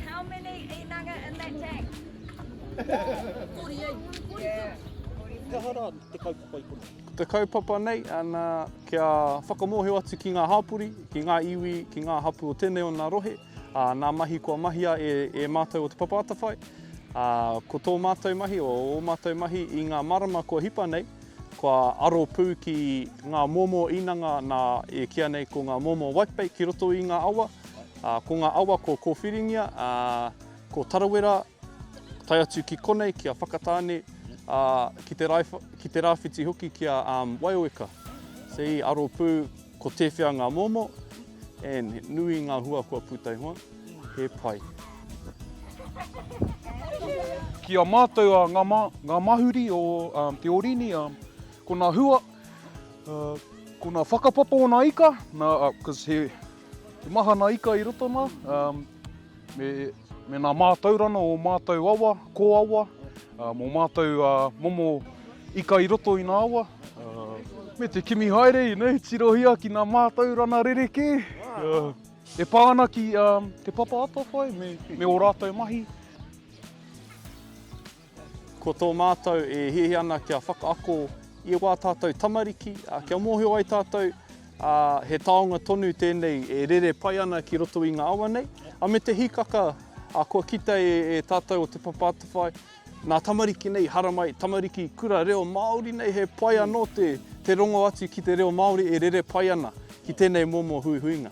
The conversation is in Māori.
How many inanga in that tank? 48. Yeah. Kia hara te kaupapa i kona? Te kaupapa nei, ana, kia whakamohio atu ki ngā hāpori, ki ngā iwi, ki ngā hapu o tēnei o nā rohe, a, nā mahi kua mahia e, e mātou o te papa atawhai, a, ko tō mātou mahi, o ō mātou mahi i ngā marama kua hipa nei, Kua aro pū ki ngā momo inanga nā e kīa nei ko ngā momo whitebait ki roto i ngā awa. Ko ngā awa ko Kōwhiringia, ko Tarawera, tae atu ki konei, ki a Whakatāne, ki te rāwhiti hoki ki a Waioweka. See, aro pū. Ko tewhea ngā momo and he nui ngā hua kua puta iho, he pai. Ki a mātou a nga ma, nga mahuri o Te Orini, ko na hua, ko na whakapapa o na ika, na, cause he, he maha na ika i roto na, Me, me nā mātaurana o ō mātou awa, kōawa, ā, mō mātou ā, momo ika i roto i nā awa, ā, me te kimi haere i nei, tirohia ki nā mātaurana rerekē, ā, e pā ana ki, ā, Te Papa Atawhai me, me ō rātou mahi. Ko tō mātou e hiahia ana kia whakaako i wā tātou tamariki, kia mōhio ai tātou he taonga tonu tēnei e rere pai ana ki roto i ngā awa nei, a me te hikaka kua kite e tātou o Te Papa Atawhai, nā tamariki nei haramai, tamariki kura reo Māori nei, he pai anō te rongo atu ki te reo Māori e rere pai ana ki tēnei momo huihuinga.